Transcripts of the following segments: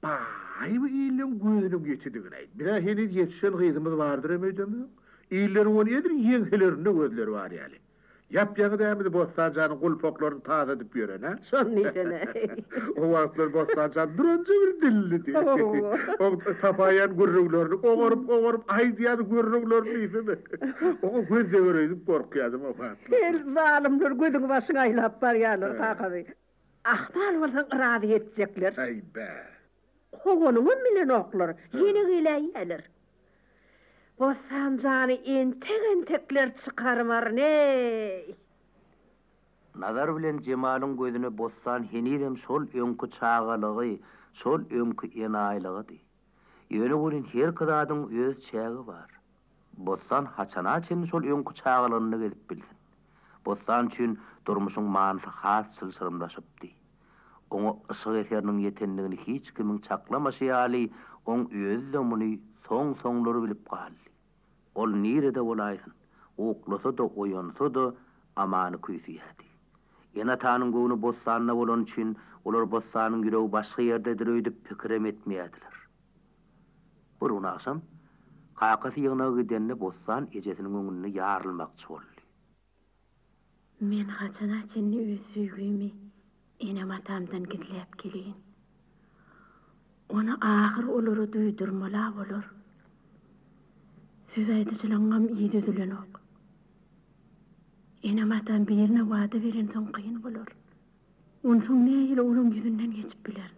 Baý bu illeň gözüniň ýetidigini aýt. Bize heniz ýetişen gyzymyz bardyrem öýdemok. Illeriň ony edil ýeňselerinde gözleri bar ýaly. Ýap-ýaňy dämidi Bossan janyň gulpaklaryny tazadyp ýören-ä? Şony diýsene. O wagtlar Bossan jan duranja bir dillidi. Oň tapaýan gürrüňlerini ogaryp-ogaryp aýdýardy gürrüňlerini diýsene. Oňa göz deger öýdüp gorkýardym o wagtlar. Hel, zalymlar gözüňi-başyňy aýlap barýarlar kakaby. Ahmal bolsaň yrazy ýetjekler. Heý-be! Kowanyňam bilenoklar, ýene geläýýäler. Bossan jany entek-entekler çykarybaryn-eý! Nazar bilen Jemalyň gözüne Bossan henizem şol öňki çagalygy, şol öňki enaýylygydy. Ýöne welin herki zadyň öz çägi bar. Bossan haçana çenli şol öňki çagalygynda gezip bilsin. Bossan üçin durmuşyň manysy has çylşyrymlaşypdy. Oňa yşyk eseriniň ýetendigini hiç kimiň çaklamaşy ýaly, oň özi-de muny soň-soňlar bilip galdy. Ol nirede bolaýsyn, uklasa-da, oýansa-da, Amany küýseýärdi. Ene-atanyň göwni bossanda bolany üçin, olar bossanyň ýüregi başga ýerdedir öýdüp pikirem etmeýärdiler. Bir gün agşam, kakasy ýygnaga gidende bossan ejesiniň öňünde ýarylmakçy boldy. Men haçana çenli öz söýgimi enem-atamdan gizläp geleýin? Ony ahyr olara duýdurmal-a bolar. Söz aýdyjylygyňam yz üzülenok. Enem-atam birine wada berensoň kyn bolar. Onsoň nähili olaň ýüzünden geçip bilerin?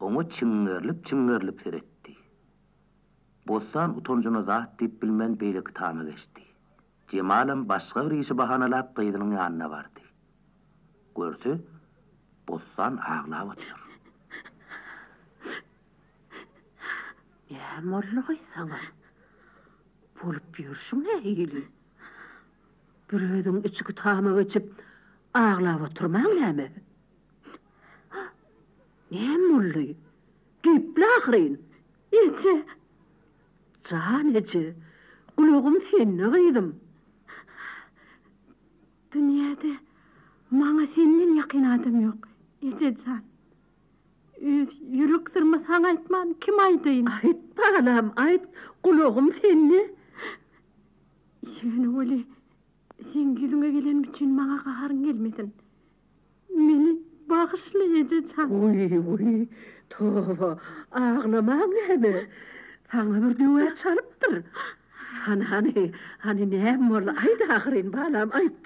Oňa çiňňerlip-çiňňerlip seretdi. Bossan utanjyna zat diýip bilmän beýleki tama geçdi. Jemalam başga bir işi bahanalap gyzynyň ýanyna bardy. Görse, Bossan aglap otyr. Näme boldugaý saňa? Bolup ýörşüň nähili? Bir özüň içki tama geçip aglap otyrmaň näme? Hah, näme boldy? Düýpli ahyryn. Eje! Jan eje, gulagym sende gyzym. Dünýäde maňa senden ýakyn adam ýok, eje jan. Öz ýürek syrymy saňa aýtman, kime aýdaýyn? Aýt, balam, aýt, gulagym sende. Ýöne weli, seň ýüzüňe gelenim üçin maňa gaharyň gelmesin. Meni bagyşla ejejan. Wiý-wiý, toba, aglamaň näme? Saňa bir döwä çalypdyr. Hany-hany, hany näme boldy, aýt ahyryn, balam, aýt!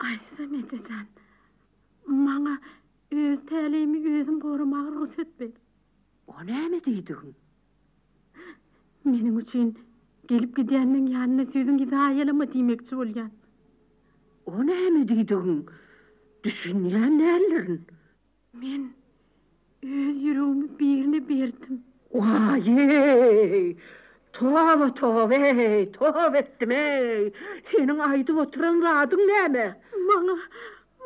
Aýtsam, ejejan, maňa öz täleýimi özüm goramaga rugsat ber. O näme diýdigiň? Meniň üçin gelip gidýänleň ýanyna sözüňi zaýalama diýmekçi bolýan. O näme diýdigiň? Düşünýän däldirin. Men öz ýüregimi birine berdim. Waý-eý! Toba, toba-eý, toba etdim-eý! Seniň aýdyp oturan zadyň näme? Maňa,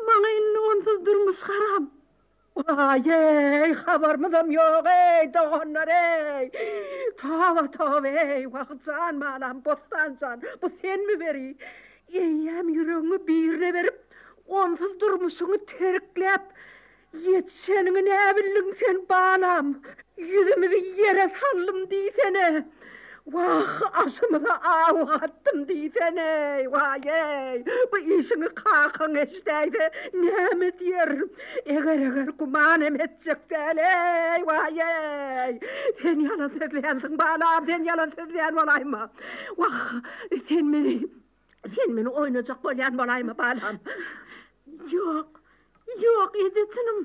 maňa indi onsuz durmuş haram. Waýeý, habarymyzam ýog-eý, doganlar-eý! Toba-toba-eý, Wagyz jan, balam, Bossan jan, bu senmi weli? Eýýäm ýüregiňi birine berip, onsuz durmuşyňy terkläp, ýetişeniňi näbildiň sen, balam? Ýüzümizi ýere saldym diýsene! Wah, aşymyza aw atdym diýsene-eý, waý-eý! Bu işiňi kakaň eşidäýse, näme diýer? Eger-eger güman hem etjek däl-eý, waý-eý! Sen ýalan sözlänsiň, balam, sen ýalan sözlän bolaýma! Wah, sen meni, sen meni oýnajak bolýan bolaýma, balam! Ýok, ýok, eje, çynym!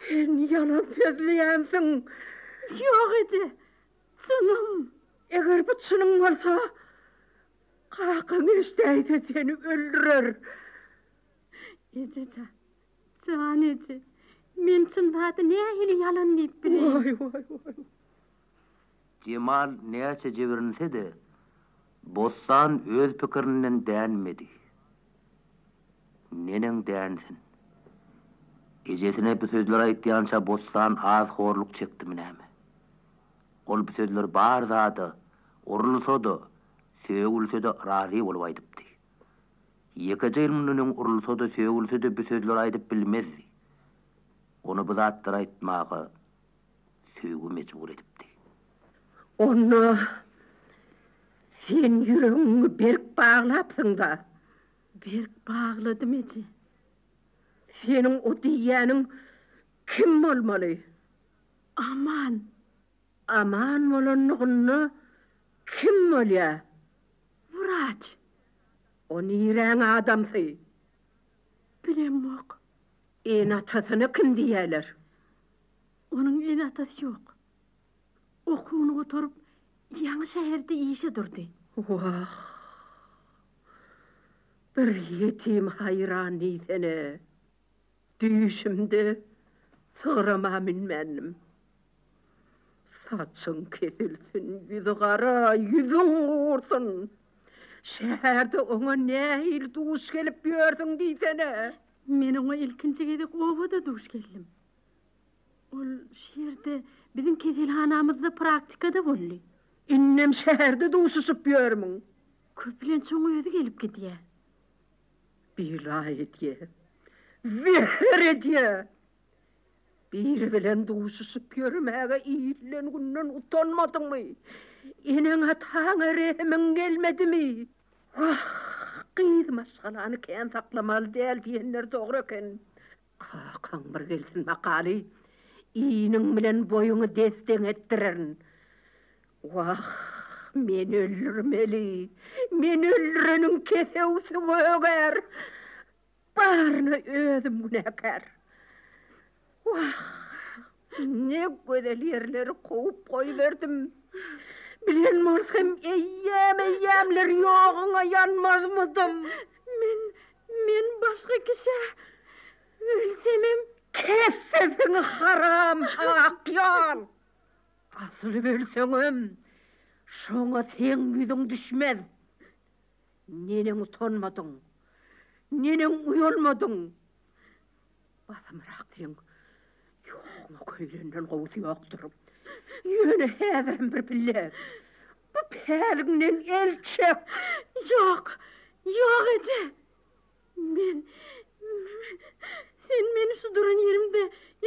Sen ýalan sözleýänsiň. Ýok eje, çynam. Eger bu çynyň bolsa, kakaň eşdäýse seni öldürer. Ejejan, jan eje, men çyn zady nähili ýalan diýip bileýin. Waý, waý, waý. Jemal näçe jibrinse-de, Bossan öz pikirinden dänmedi. Neneň dänsin? Ejesine bu sözleri aýtýança Bossan az horluk çekdimi näme? Ol bu sözleri bar zada, urulsa-da, sögülse-de razy bolup aýdypdy. Ýekeje ýyl mundan öň urulsa-da, sögülse-de bu sözleri aýdyp bilmezdi. Ony bu zatlary aýtmaga. söýgi mejbur edipdi. Onda sen ýüregiňi berk baglapsyň-da? Berk bagladym, eje. Seniň o diýýäniň kim bolmaly? Aman. Aman bolanlygynda kim bolýa? Wraç. O niräň adamsy? Bilemok. Ene-atasyna kim diýýäler? Onuň ene-atasy ýok. Okuwyny gutaryp, ýaňy şäherde işe durdy. Wah! Bir ýetim haýran diýsene! Düýşümde sygrama münmändim. Saçyň kesilsin, ýüzi gara, ýüzüň gursun! Şäherde oňa nähili duş gelip ýörsüň diýsene! Men oňa ilkinji gezek obada duş geldim. Ol şu ýerde, biziň keselhanamyzda praktikada boldy. Indem şäherde duşuşyp ýörmüň? Köplenç oň özi gelip gidýär. Biraý edýär. Zeher edýär. Biri bilen duşuşyp ýörmäge illen günden utanmadyňmy? Eneň-ataňa rehimiň gelmedimi? Wah, gyz maşgalany kän saklamaly däl diýenler dogry eken. Kakaň bir gelsin makaly, iniň bilen boýuňy des-deň etdirerin. Wah, men öldürmeli, men öldüreniň kesewsi gögär. Baryna özüm günäkär. Wah! Ne gözel ýerleri kowup goýberdim. Bilen bolsam eýýäm-eýýämler ýoguňa ýanmazmydym. Men, men başga kişä ölsemem. Kes sesiňi haram akýol! Asyl ölseňem, şoňa seň ýüzüň düşmez. Neneň utanmadyň? Neneň uýalmadyň? Basymrak seň ýogyňa köýlenden gowusy ýokdur. Ýöne häzirem bir pille bu päligiňden el çek. Ýok, ýok eje. Men, sen meni şu duran ýerimde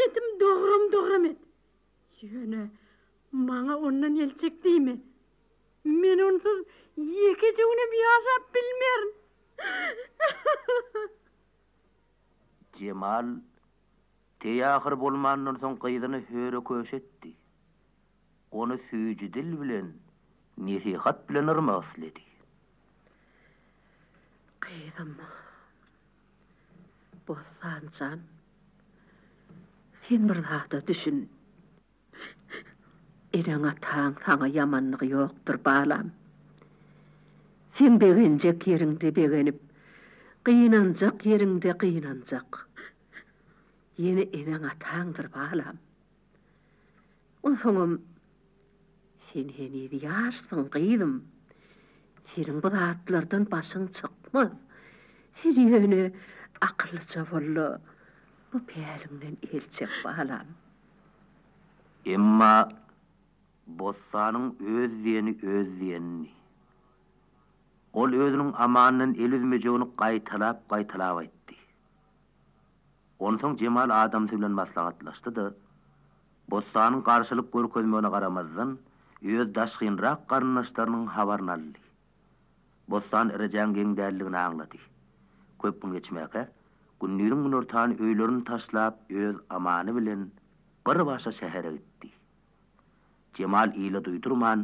etim dogram-dogram et. Ýöne maňa ondan el çek diýme. Men onsuz ýekeje günem ýaşap bilmerin. Jemal teýahyr bolmandan soň gyzyny höre-köşe etdi. Ony süýji dil bilen, nesihat bilen yrmak isledi. Gyzym, Bossan jan, sen bir zada düşün. Eneň-ataň saňa ýamanlygy ýokdur, balam. Sen begenjek ýeriňde begenip, gynanjak ýeriňde gynanjak. Ýene eneň-ataňdyr, balam. Onsoňam, sen heniz ýaşsyň, gyzym. Seniň bu zatlardan başyň çykmaz. Sen ýöne akyllyja bol-da, bu päliňden el çek, balam. Emma bossanyň öz diýeni öz diýenini. Ol özüniň Amandan el üzmejegini gaýtalap-gaýtalap aýtdy. Onsoň Jemal adamsy bilen maslahatlaşdy-da, bossanyň garşylyk görkezmegine garamazdan, öz daşgynrak garyndaşlarynyň habaryny aldy. Bossan Irejäň geň däldigini aňlady. Köp gün geçmäkä, Gündüziň günortan öýlerini taşlap öz amany bilen bir başa şähere gitdi. Jemal ile duýdurman,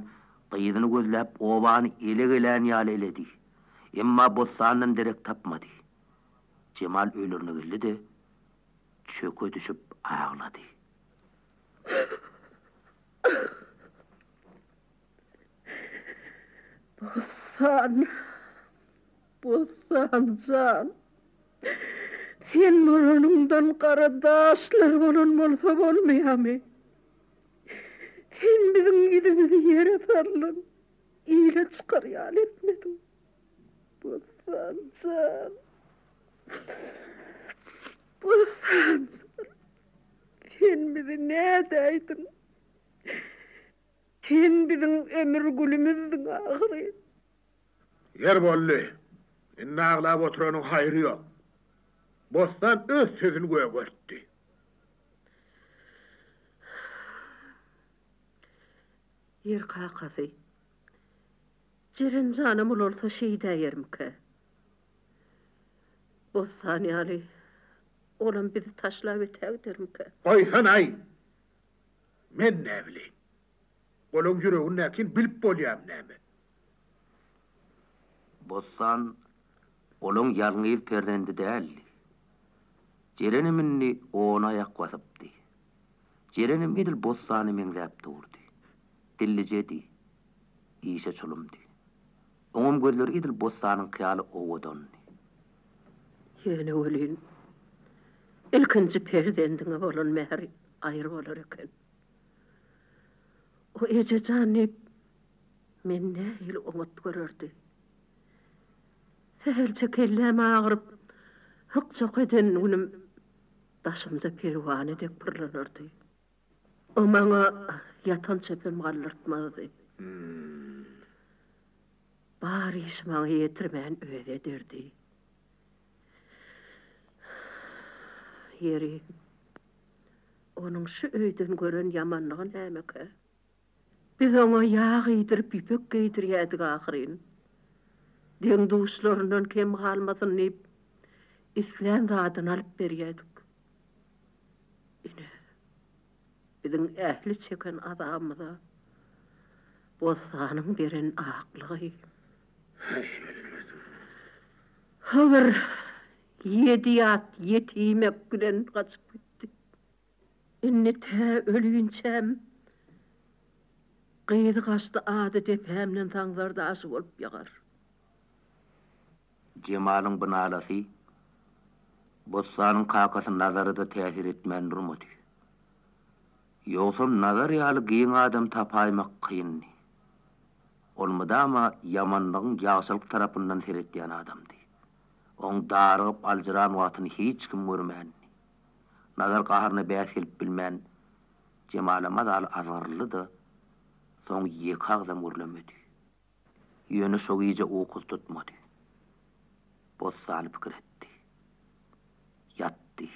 gyzyny gözläp obany ele gelän ýaly eledi. Emma Bossandan derek tapmady. Jemal öýlerine geldi-de, çöke düşüp aglady. Bossan, Bossan jan, sen bolanyňdan gara daşlar bolan bolsa bolmaýamy? Sen biziň ýüzümizi ýere sallan ile çykar ýaly etmediň. Bossan jan, Bossan jan, sen bizi nädäýdiň? Sen biziň ömür gülümizdiň ahyry. Ýer boldy. Indi aglap oturanyň haýry ýok. Bossan öz sözüni gögertdi. Ýer kakasy. Jeren janam ulalsa şeýdäýermikä? Bossan ýaly olam bizi taşlap ötägidermikä? Goýsanaý! Men näbileýin. Olaň ýüregindäkini bilip bolýamy näme? Bossan olaň ýalňyz perzendi däldi. Jerenem indi ona aýak basypdy. Jerenem edil Bossana meňzäp durdy. Dillijedi. Işe çulumdy. Oňam gözleri edil Bossanyňky ýaly owadandy. Ýöne welin, ilkinji perzendiňe bolan mähri Gaýry bolar eken. O eje jan diýip, meni nähili oňat görerdi. Sähelçe kelläm agyryp, hyk-çok eden günüm daşymda perwane dek pyrlanardy. O maňa ýatan çöpem galdyrtmazdy. Bar işi maňa ýetirmän özi ederdi. Ýeri, onuň şu öýden gören ýamanlygy nämekä? Biz oňa ýag iýdirip, ýüpek geýdirýädik ahyryn. Deň-duşlaryndan kem galmasyn diýip, islän zadyny alyp berýädik. Ine, biziň ähli çeken azabymyza bossanyň beren aklygy. Äý gelmedim. Hydyr ýedi ýat ýetimek bilen gaçyp gitdi. Indi tä ölünçäm gyzy gaçdy ady depämden Saňzar daşy bolup ýagar. Jemalyň bu nalasy Bossanyň kakasy Nazara-da täsir etmän durmady. Ýogsam Nazar ýaly giň adam tapaýmak kyndy. Ol mydama ýamanlygyň ýagşylyk tarapyndan seretýän adamdy. Oň darygyp aljyran wagtyny hiç kim görmändi. Nazar gaharyna bäs gelip bilmän Jemala mazaly azgyryldy-da, soň ýeke agzam gürlemedi. Ýöne şo gije ukusy tutmady. Bossany pikir etdi. Ýatdy.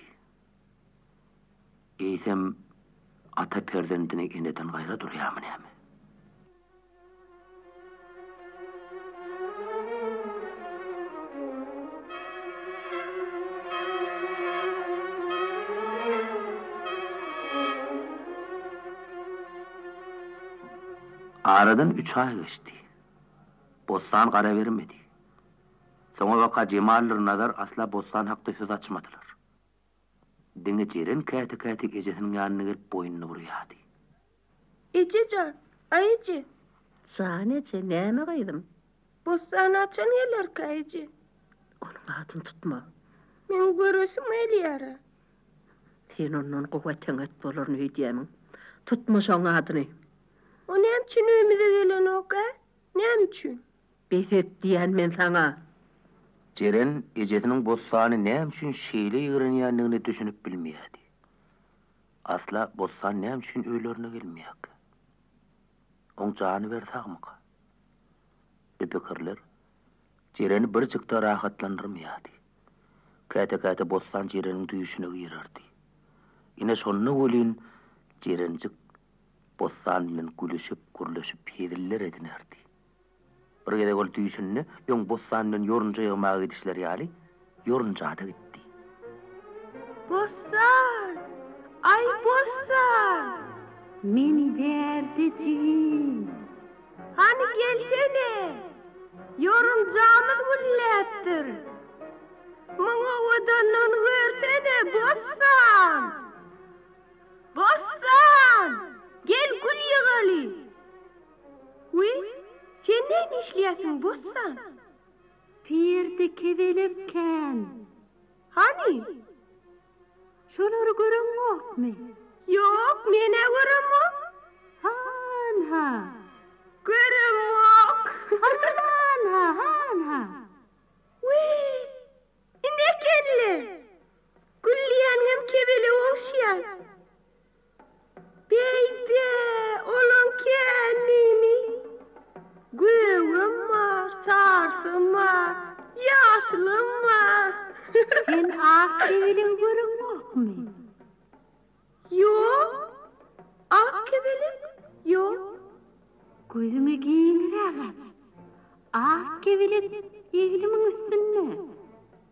Eýsem, ata perzendini eneden gaýra durýarmy näme? Aradan üç aý geçdi. Bossan gara bermedi. Soňabaka Jemaldyr Nazar asla Bossan hakda söz açmadylar. Diňe Jeren käte-käte ejesiniň ýanyna gelip boýnuny burýardy. Eje jan! Aý eje! Jan eje, näme gyzym? Bossany haçan gelerkä, eje? Onuň adyny tutma. Meň göresim gelýär-ä. Sen ondan gowy eten-et bolaryn öýdýämiň? Tutma şoň adyny. O näme üçin öýümize gelenok-ä? Näme üçin? Bes et diýýän men saňa! Jeren ejesiniň Bossany näme üçin şeýle ýigrenýändigine düşünip bilmeýärdi. Asla Bossan näme üçin öýlerine gelmeýärkä? Oň jany bir sagmyka? Bu pikirler Jereni birjik-de rahatlandyrmaýardy. Käte-käte bossan Jereniň düýşüne girerdi. Ine, şonda welin Jerenjik bossan bilen gülüşip, gürleşip, heziller edinerdi. Bir gezek ol düýşünde öň bossan bilen ýorunja ýygmaga gidişleri ýaly, Ýorunjada gitdi. Bossan! Aý, Bossan! Men bärde jigim. Hany gelsene! Ýorunjamyz gülläpdir. Muň owadanlygyny görsene, Bossan! Bossan! Gel gül ýygaly! Wiý, sen näme işleýärsiň, Bossan? Perde kebelek kän. Hany? Şolary göreňokmy? Ýok, men-ä göremok. Han-ha. Göremok. Han-ha, han-ha. Wiý, ine ekenler. Gülýäniňem kebelege ogşýar. Beýdä, olaň källini, gögem bar, sarsam bar, ýaşylam bar. Sen ak kebelegi göreňokmy? Ýok, ak kebelek ýok. Gözüňi giňiräk aç. Ak kebelek eglimiň üstünde.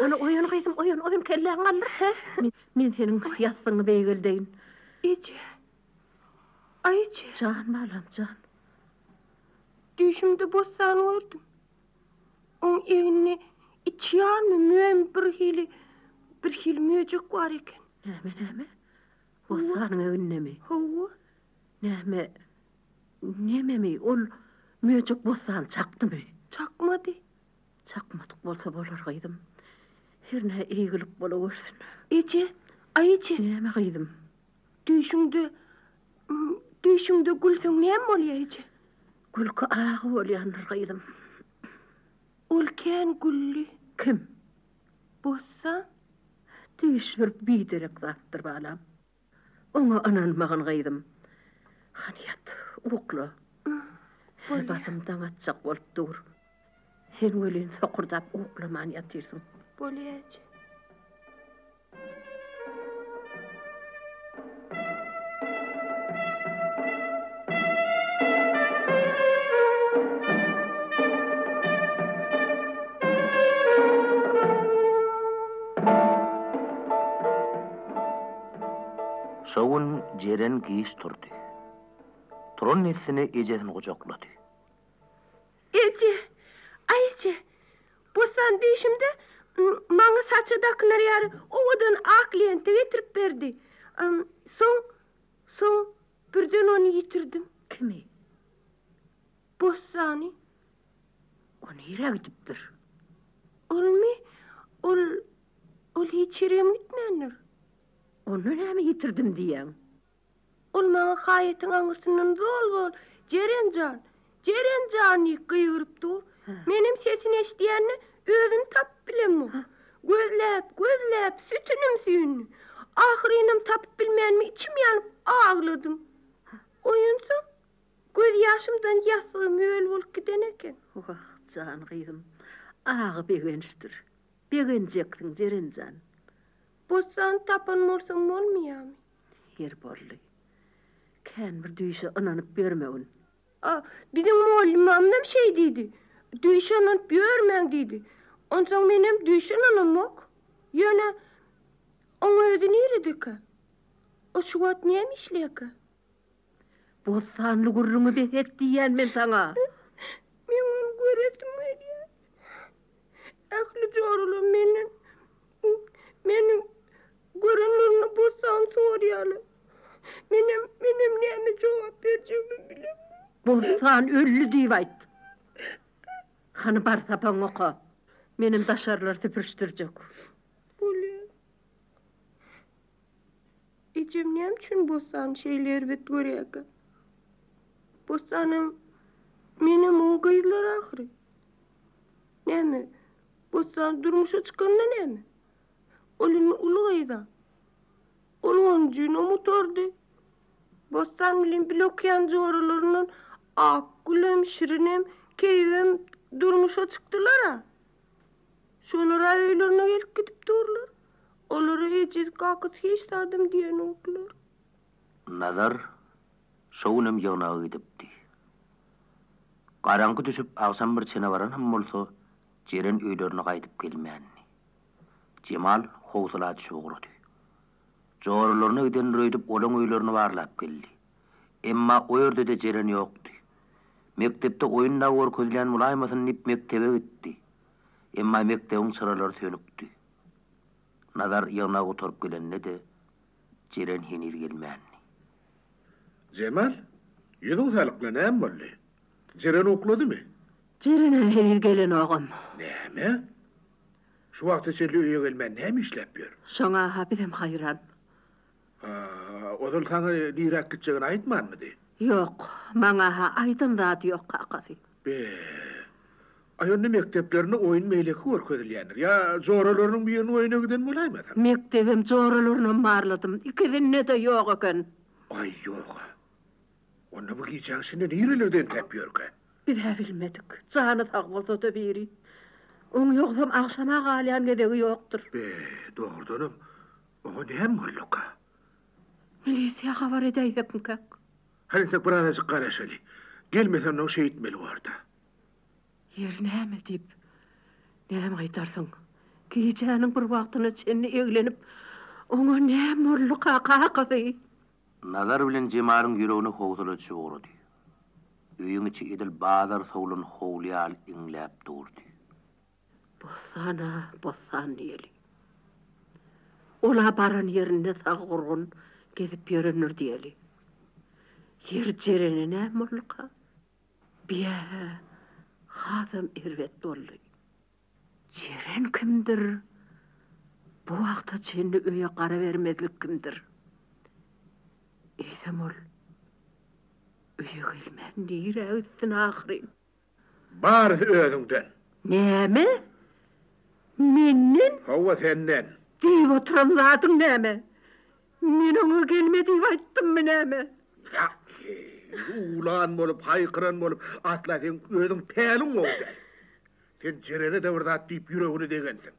Ony oýan, gyzym, oýan, oýan, kelläň galdyr, hä? Men seniň ýassygyňy beýgeldeýin. Eje! Aý, eje! Jan, balam, jan. Düýşümde bossan gördüm. Oň egnine iki ýarmy müýn bir hili, bir hili möjek bar eken. Näme, näme? Bossanyň egnindemi? Hawa. Näme, nememi, ol möjek bossany çakdymy? Çakmady. Çakmatyk bolsa bolar, gyzym. Hernä eýgilik bolawersin. Eje! Aý eje! Näme, gyzym? Düýşüňde, düýşüňde gülseň näme bolýar, eje? Gülki agy bolýandyr, gyzym. Ol kän güldi. Kim? Bossan. Düýş bir biderek zatdyr, balam. Oňa ynanmagyn, gyzym. Hany ýat, ukla. Her basym daň atjak bolup dur. Sen welin sokurdap uklaman ýatyrsyň. Bolýa, eje. Şo gün Jeren giç turdy. Turan dessine ejesini gujaklady. Eje! Aý eje! Bossan dişimde maňa saça dakylar ýaly owadan ak lenta getirip berdi. Soň, soň birden ony ýitirdim. Kimi? Bossany. O nirä gidipdir? Olmy? Ol Ol hiç ýere hem gitmändir. Onda näme ýitirdim diýýäň? Ol maňa haýatyň aňyrsyndan zol-zol, Jeren jan! Jeren jan! diýip gygyryp dur. Menem sesini eşidýän-de, özüni tapyp bilemok. Gözläp, gözläp, sütünim süýndi. Ahyrynam tapyp bilmänimi içim ýanyp agladym. Oýansaň, gözýaşymdan ýassygy möl bolup giden eken. Wah, jan gyzym, agy begençdir. Begenjeksiň, Jeren jan. Bossan tapan bolsaň bolmaýamy? Her boldy. Kän bir düýşe ynanyp ýörmegin. A, biziň mugallymamyzam şeý diýdi. Düýşe ynanyp ýörmäň diýdi. Onsoň menem düýşe ynanamok. Ýöne, oň özi niredekä? O şu wagt näme işleýärkä? Bossanly gürrüňi bes et diýýän men saňa! Meň ony göresim gelýär. Ähli joralar menden meni görenlerinde bossany sorýarlar. Menem, menem näme jogap berjegimi bilemok. Bossan öldi diýip aýt. Hany bar sapagyňy oka. Menem daşarylary süpürişdirjek. Bolýar. Ejem näme üçin bossany şeýle erbet görýärkä? Bossanam menem oň gyzlary ahyry. Näme, bossan durmuşa çykanda näme? Ol indi uly gyz-a. Ol onjy nom otardy. Bossan bilen bile okaýan joralaryndan Akgülem, Şirinem, Keýigem durmuşa çykdylar-a. Şolar-a öýlerine gelip gidip durlar. Olara ejesi-kakasy hiç zadam diýenoklar. Nazar şo günem ýygnaga gidipdi. Garaňky düşüp agşam bir çene baran hem bolsa, Jeren öýlerine gaýdyp gelmändi. Jemal howsala düşüp ugrady. Joralaryna giden Röýdüp olaň öýlerini barlap geldi. Emma o ýerde-de jeren ýokdy. Mekdepde oýun dagy görkezilýän bolaýmasyn diýip mekdebe gitdi. Emma mekdebiň çyralary sönükdi. Nazar ýygnak gutaryp gelende-de jeren heniz gelmändi. Jemal, ýüzüň salykly näme boldy? Jeren ukladymy? Jeren-ä heniz gelenogam. Näme? Şu wagta çenli öýe gelmän näme işläp ýör? Şoňa-ha bizem haýran. Haa, ozal saňa niräk gitjegini aýtmanmydy? Ýok, maňa-ha aýdan zady ýok, kakasy. Be! Aý, onda mekdeplerinde oýun beýleki görkezilýändir. Ýa joralarynyň biriniň öýüne giden bolaýmasaň? Mekdebem, joralarynam barladym. Ikisinde-de ýok eken. Aý, ýog-a. Onda bu gijäň içinde nirelerde entäp ýörkä? Biz-ä bilmedik. Jany sag bolsa-da biri. Oň ýogsam agşama galýan gezegi ýokdur. Be, dogrudanam, Oňa näme bolduka? Milisiýa habar edäýsekmikäk? Hany-da birazajyk garaşaly. Gelmese onnoň şeýtmeli bor-da. Ýeri näme diýip, näme aýdarsyň? Gijäniň bir wagtyna çenli eglenip, oňa näme bolduka, kakasy? Nazar bilen Jemaryň ýüregine howsala düşüp ugrady. Öýüň içi edil bazar sowlan howly ýaly iňläp durdy. Bossana bossan diýeli. Ol-a baran ýerinde sag-gurgun gezip ýörendir diýeli. Ýer jereni näme bolduka? Biä-ä, hasam erbet boldy. Jeren kimdir? Bu wagta çenli öýe gara bermezlik kimdir? Eýsem ol öýe gelmän nirägitsin ahyryn? Barysy özüňden. Näme? Menden? Hawa, senden. Diýip oturan zadyň näme? Men oňa gelme diýip aýtdymmy näme? Ýaký, uwlan bolup, haýkyran bolup, asla seň özüň päliň gowy däl. Sen Jerere-de bir zat diýip ýüregini degensiň.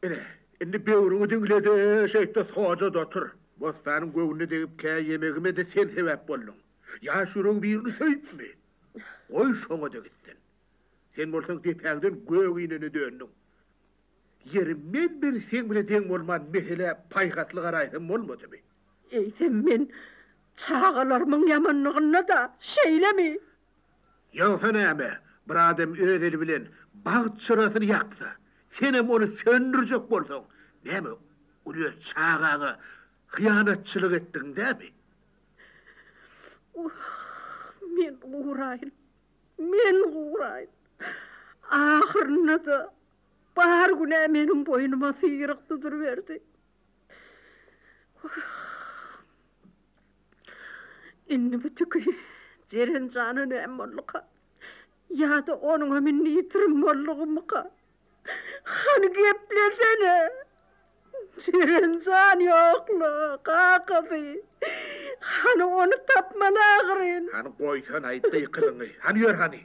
Ine, indi böwrüňi diňle-de, şeýt-de soja-da otur. Bossanyň göwnüne degip, kä ýemegime-de sen sebäp bolduň. Ýaş ýüregi birini söýüpmi? Goý, şoňa-da gitsin. Sen bolsaň depäňden gök inene döndüň. Ýeri, men bir seň bilen deň bolman meselä paýhasly garaýsam bolmadymy? Eýsem, men çagalarymyň ýamanlygynda-da şeýlemi? Ýogsa näme, bir adam öz eli bilen bagt çyrasyny ýaksa, senem ony söndürjek bolsaň, näme, uly öz çagaňa hyýanatçylyk etdigiň dälmi? Wah, men guraýyn, men guraýyn! Ahyrynda-da bar günä meniň boýnuma syryk duduryberdi. Wah! Indi bu tüki Jeren jana näme bolduka? Ýa-da onuňam indi ýitirim boldugymyka? Hany geplesene! Jeren jan ýok-la, kakasy! Hany ony tapmaly agyryn! Hany goýsana-aý gykylyňy! Hany ýör hany!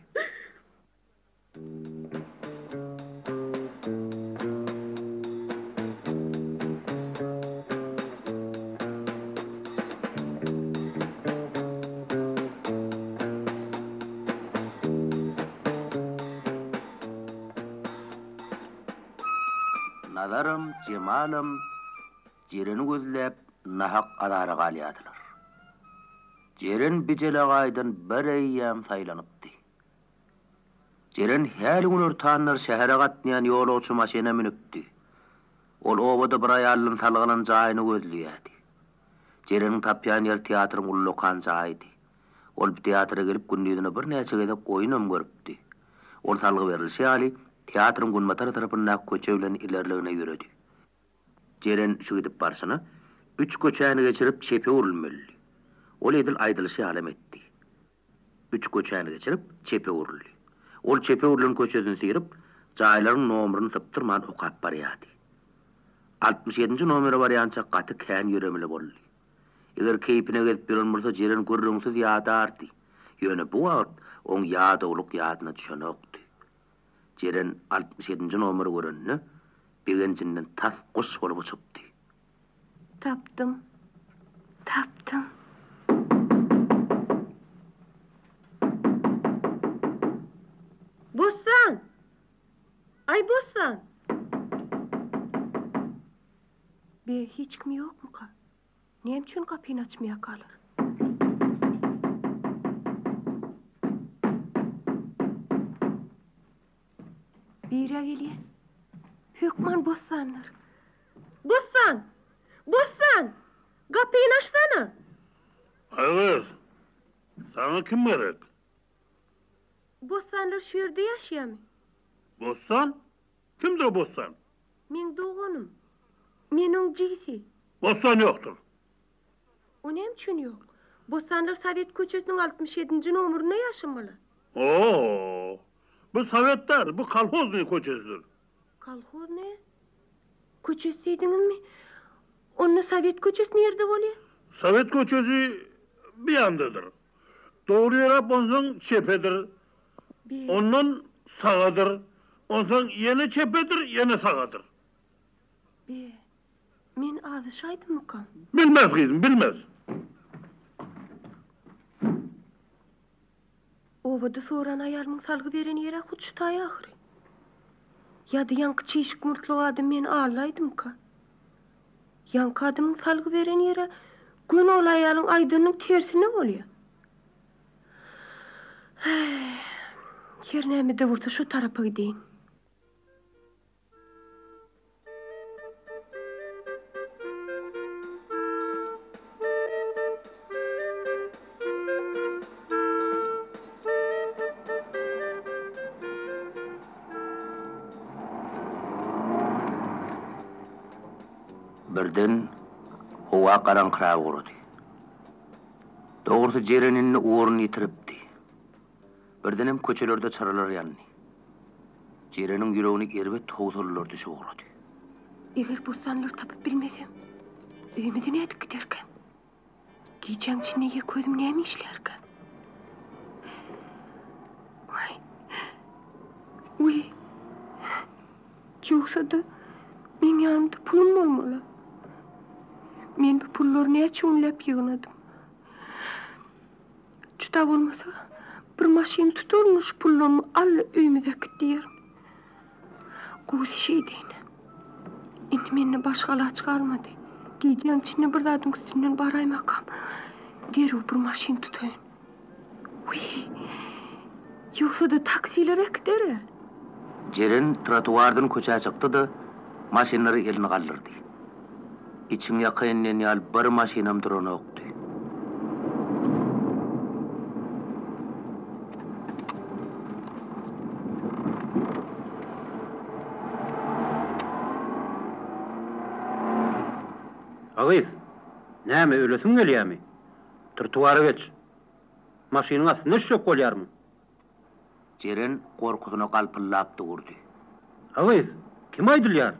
Nazaram, Jemalam Jereni gözläp nahak azara galýardylar. Jeren Bijelegaýdan bir eýýäm saýlanypdy. Jeren häli günortanlar şähere gatnaýan ýolagçy maşyna münüpdi. Ol obada bir aýaldan salgylan jaýyny gözleýärdi. Jereniň tapýan ýeri teatryň ullakan jaýydy. Ol teatra gelip gündizine birnäçe gezek oýunam görüpdi. Ol salgy berlişi ýaly, teatryň günbatar tarapyndaky köçe bilen ilerligine ýöredi. Jeren şu gidip barşyna, üç köçäni geçirip çepe öwrülmelidi. Ol edil aýdylyşy ýalam etdi. Üç köçäni geçirip, çepe öwrüldi. Ol çepe öwrülen köçesini syryp, jaýlaryň nomryny sypdyrman okap barýardy. Altmyş ýedinji nomere barýança gaty kän ýöremeli boldy. Eger keýpine gezip ýören bolsa Jeren gürrüňsiz ýadardy. Ýöne bu wagt oň ýadawlyk ýadyna düşenokdy. Jeren altmyş ýedinji nomeri görende begenjinden tas guş bolup uçupdy. Tapdym! Tapdym! Bossan! Aý Bossan! Be, hiç kim ýokmuka? Näme üçin gapyny açmaýakalar? Biri-ä gelýä. Hökman bossandyr. Bossan! Bossan! Gapyny açsana! Agys, saňa kim gerek? Bossanlar şu ýerde ýaşaýamy? Bossan? Kimdir Bossan? Meň doganym. Men oň jigisi. Bossan ýokdur. O näme üçin ýok? Bossanlar Sowet köçesiniň altmyş ýedinji nomerinde ýaşamaly. O-o-o! Bu Sowet däl, bu Kolhoznyý köçesidir. Kolhoznyý köçesi diýdiňizmi? Onda Sowet köçesi nirde bolýar? Sowet köçesi bu ýandadyr. Dogry ýöräp onsoň çepedir. Ondan sagadyr, onsoň ýene çepedir, ýene sagadyr. Be, men azyşaýdymykam? Bilmez, gyzym, bilmez. Obada soran aýalymyň salgy beren ýeri-ä hut şu taý ahyry. Ýa-da ýaňky çişik murtly adam meni allaýdymyka? Ýaňky adamyň salgy beren ýeri-ä göni ol aýalyň aýdanynyň tersine bolýa. Her näme-de bolsa şu tarapa gideýin. Birden howa garaňkyragugrady. Dogrusy, jerenini orun ýetiripdi. Birdenem köçelerde çyralar ýandy. Jereniň ýüregini erbet howsalalar düşüp ugrady. Eger bossanlary tapyp bilmesem, öýümize nädip giderkäm? Gijäň içinde ýeke özüm näme işlärkäm? Waý! Wiý! Ýogsa-da, meň ýanymda pulum bolmaly. Men bu pullary näçe günläp ýygnadym. Juda bolmasa, bir maşyn tutaryn-da şu pullarymy al-da öýümize äkit diýerin. Gowusy şeýdeýin. Indi mende başga alaç galmady. Gijäň içinde bir zadyň üstünden baraýmakam, derrew bir maşyn tutaýyn. Wiý! Ýogsa-da taksiler äkider-ä! Jeren trotuardan köçä çykdy-da, maşynlara elini galdyrdy. Içiň ýaka inen ýaly bir maşynam duranokdy. A gyz, näme, ölesiň gelýärmi? Trotuara geç. Maşynyň astynda düşjek bolýarmyň? Jeren gorkusyna galpyldap durdy. A gyz, kime aýdylýar?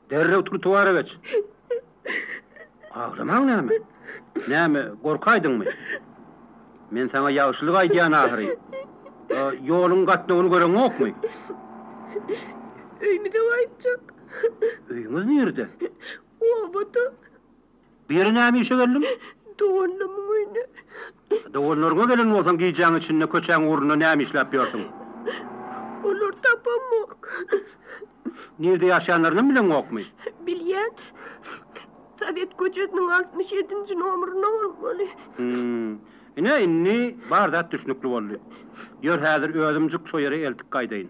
Derrew trotuara geç. Aglamaň näme? Näme, gorkaýdyňmy? Men saňa ýagşylyk aýdýan ahyry. A ýoluň gatnawyny göreňokmy? Öýümize gaýtjak. Öýüňiz nirde? Obada. Bu ýere näme işe geldiň? Doganlarymyň öýüne. Doganlaryňa gelen bolsaň, gijäň içinde köçäň ugrunda näme işläp ýörsüň? Olary tapamok. Nirede ýaşaýanlarynam bileňokmy? Bilýän. Sowet köçesiniň altmyş ýedinji nomerinde bolmaly. Hum. Ine, indi bar zat düşnükli boldy. Ýör, häzir özümjik şo ýere eltip gaýdaýyn.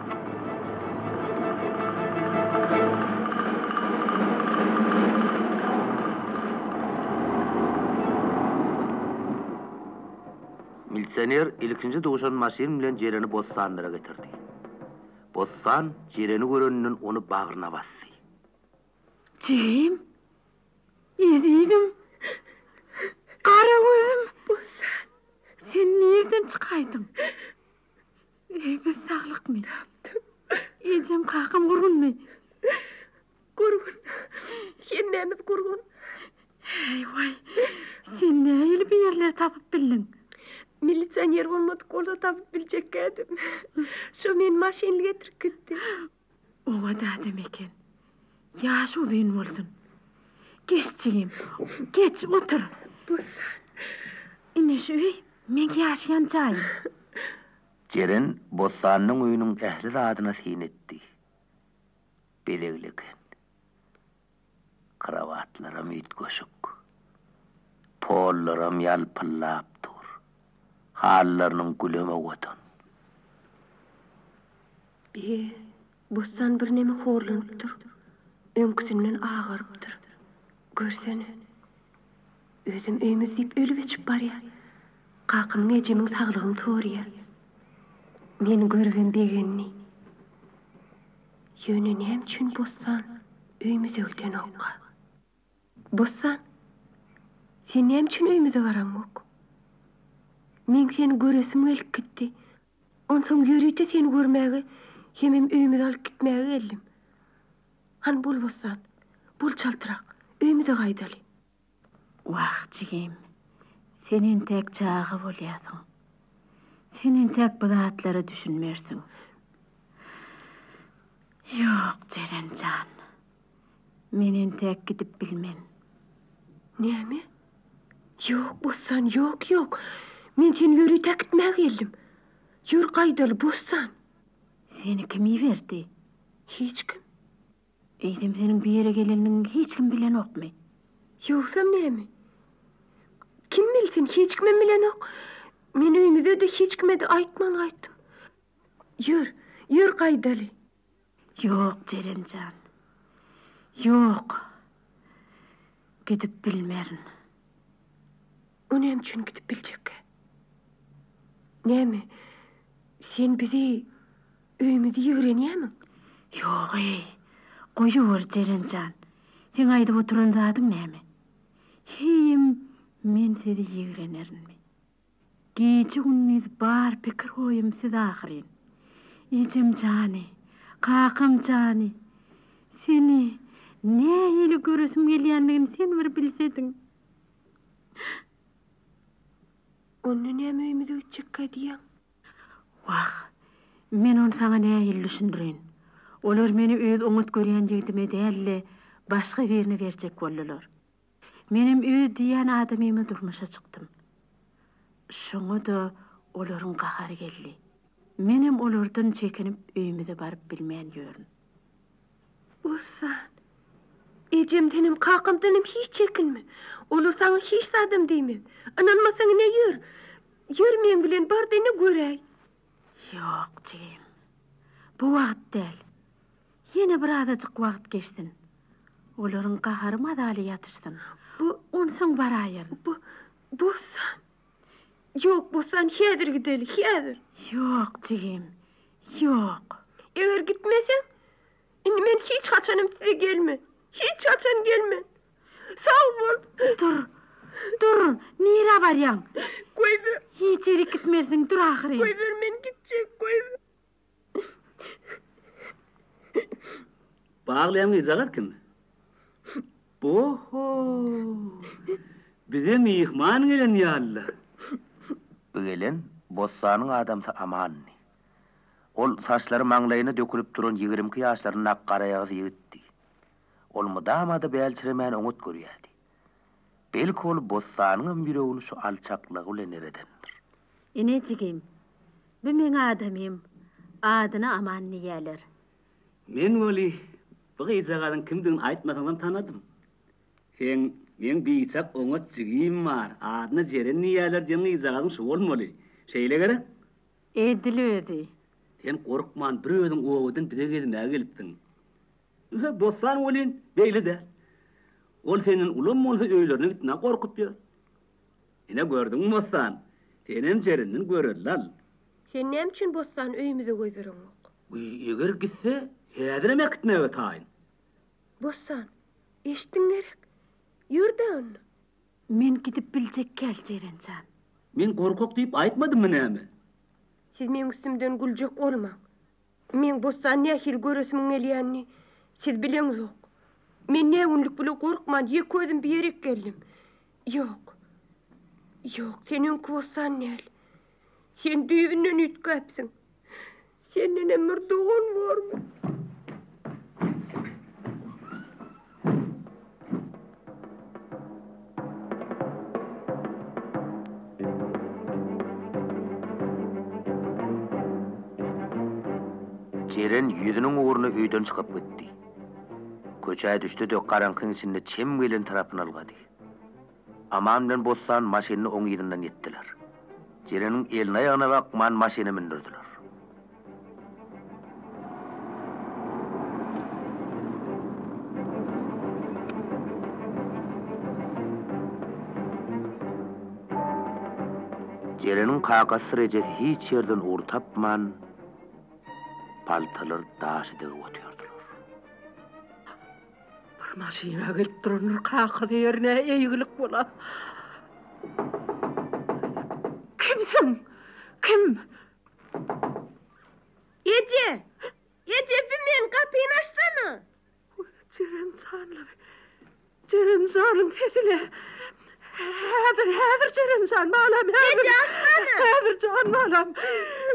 Milisioner ilkinji duşan maşyn bilen Jereni bossanlara getirdi. Bossan Jereni göreninden ony bagryna basdy. Jigim! Ezizim! Gara gözüm! Bossan! Sen nirden çykaýdyň? Öýde saglyk men. Ejem kakam gurgunmy? Gurgun. Hemmämiz gurgun. Heý-waý. Sen nähili bu ýerleri tapyp bildiň? Milisioner bolmadyk bolsa tapyp biljekkädim. Şo meni maşynly getirip gitdi. Oňat adam eken. Ýaşy uzyn bolsun. Geç jigim, geç, otur. Bossan. Ine şu öý meň ýaşaýan jaýym. Jeren Bossanyň öýüniň ähli zadyna syn etdi. Bezegli eken. Krowatlaram üýtgeşik. Pollaram ýalpyllap dur. Halylarynyň gülem owadan. Eý, bossan birneme horlanypdyr. Öňküsinden agarypdyr. Görsene. Özem öýümiz diýip ölüp-öçüp barýar. Kakamyň ejemiň saglygyny soraýar. Meni görübem begendi. Ýöne näme üçin bossan öýmüze gidenoka? Bossan, sen näme üçin öýmüze baraňok? Meň seni göresim gelip gitdi. Onsoň ýörite seni görmäge hemem öýmüze alyp gitmäge geldim. Hany bol bossan, bol çaltrak, öýmüze gaýdaly. Wah, jigim, sen entäk çaga bolýarsyň. Sen entäk bu zatlara düşünmersiň. Ýok, Jeren jan. Men entäk gidip bilmen. Näme? Ýok, Bossan, ýok, ýok. Men seni ýörite äkitmäge geldim. Ýör gaýdaly, Bossan. Seni kim iberdi? Hiç kim. Eýsem seniň bu ýere gelenligiňi hiç kim bilenokmy? Ýogsam näme? Kim bilsin, hiç kimem bilenok. Men öýmüze-de, hiç kime-de aýtman gaýtdym. Ýör, ýör gaýdaly. Ýok, Jeren jan. Ýok. Gidip bilmerin. O näme üçin gidip biljekkä? Näme, sen bizi, öýümizi ýigrenýämiň? Ýog-eý, goýuber, Jeren jan. Seň aýdyp oturan zadyň näme? Heýem, men sizi ýigrenerinmi? Gije-gündiz bar pikir-oýum siz ahyryn. Ejem jany, kakam jany, seni nähili göresim gelýändigini sen bir bilsediň. Onda näme öýümize gitjekkä diýýäň? Wah, men ony saňa nähili düşündireýin? Olar meni öz oňat görýän ýigdime däl-de, başga birine berjek boldular. Menem öz diýýän adamyma durmuşa çykdym. Şoňa-da olaryň gahary geldi. Menem olardan çekinip öýümize baryp bilmän ýörün. Ozan, ejemdenem, kakamdanam hiç çekinme. Olar saňa hiç zadam diýmez. Ynanmasaň, ine ýör. Ýör meň bilen, bar-da ine göräý. Ýok, jigim. Bu wagt däl. Ýene bir azajyk wagt geçsin. Olaryň gahary mazaly ýatyşsyn. Bu, onsoň baraýaryn. Bu, Bossan. Ýok, Bossan, häzir gideli, häzir! Ýok, jigim, ýok! Eger gitmeseň, indi men hiç haçanam size gelmen. Hiç haçan gelmen. Sag bol! Dur, dur! Nirä barýaň? Goýber! Hiç ýerik gitmelisiň, dur ahyry! Goýber, men gitjek, goýber! Baglaýan gyzjagaz kim? Oho! Bize myhman gelen ýaly-la. Bu gelen bossanyň adamsy Amandy. Ol saçlary maňlaýyna dökülip duran ýigrimki ýaşlaryndaky garaýagyz ýigitdi. Ol mydama-da bälçiremän oňat görýärdi. Belki ol bossanyňam ýüregini şu alçaklygy bilen eredendir. Ine jigim, bu meň adamym, adyna Aman diýýäler. Men weli, bu gyzjagazyň kimdigini aýtmasaňam tanadym. Seň, meň biçak oňat jigim bar, adyna Jeren diýýäler diýen gyzjagazyň şu bolmaly. Şeýle gerek? Edil özi. Sen gorkman, bir özüň obadan bize gezmäge gelipsiň. Ýöne Bossan welin beýle däl. Ol senden ulam bolsa öýlerine gitmän gorkup ýör. Ine gördüňmi Bossan, senem jerinden görellal. Sen näme üçin Bossan öýümize göz bereňok? Eger gitse, häzirem äkitmäge taýyn. Bossan, eşitdiň gerek. Ýör-dä onda. Men gidip biljekkäl Jeren jan. Men gorkak diýip aýtmadymmy näme? Siz meň üstümden güljek bolmaň. Meň bossan nähili göresimiň gelýänini siz bileňzok. Men nägünlük bile gorkman ýeke özüm bu ýerek geldim. Ýok. Ýok, sen öňki bossan däl. Sen düýbünden üýtgäpsiň. Sendenem bir dogan bormy? Jeren ýüzüniň ugruna öýden çykyp gitdi. Köçä düşdi-de, garaňkyň içinde çem gelen tarapyna ylgady. Aman bilen Bossan maşynyny oň yzyndan ýetdiler. Jeleniň elini-aýagyna bakman maşyna mündürdiler. Jeleniň kakasy Rejep hiç ýerden ugur tapman, paltalary daşa degip otyrdylar. Bir maşyna gelip durandyr kakasy ýerine eýgilik bola. Kimsiň? Kim? Eje! Eje bi men gapyny açsana! Jeren janlary! Jeren janyň sesile! Häzir, häzir Jeren jan balam häzir! Eje açsana! Häzir jan balam!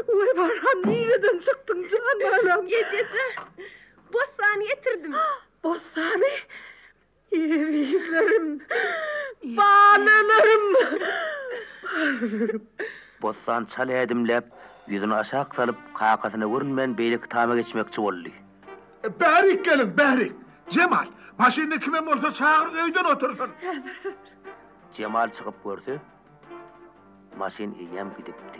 Oý balam nireden çykdyň jan balam? Eje jan! Bossany getirdim. Bossany? Ezizlerim! Balalarym! Balalarym! Bossan çal ädimläp, ýüzüni aşak salyp, kakasyna görünmän beýleki tama geçmekçi boldy. Bärik geliň, bärik! Jemal, maşynda kimem bolsa çagyr, öýden otursyn! Jemal çykyp görse, maşyn eýýäm gidipdi.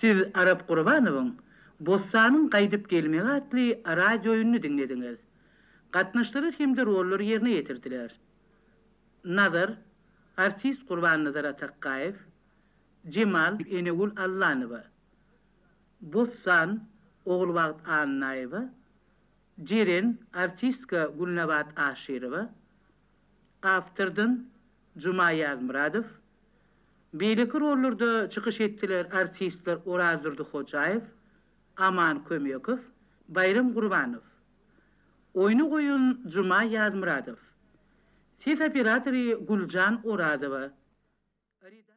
Siz Arap Gurbanowyň Bossanyň gaýdyp gelmegi atly radiooýunyny diňlediňiz. Gatnaşdylar hem-de rollary ýerine ýetirdiler. Nazar, artist Gurbannazar Atakgaýew, Jemal, Enegül Allanowa. Bossan, Ogulbagt Annaýewa, Jeren, artistka Gülnabat Aşyrowa, awtordan Juma Ýazmyradow, beýleki rollarda çykyş etdiler artistler Orazdurdy Hojaýew, Aman Kömekow, Baýram Gurbanow. Oýny goýan Juma Ýazmyradow. Ses operatory Güljan Orazowa. Redaktor.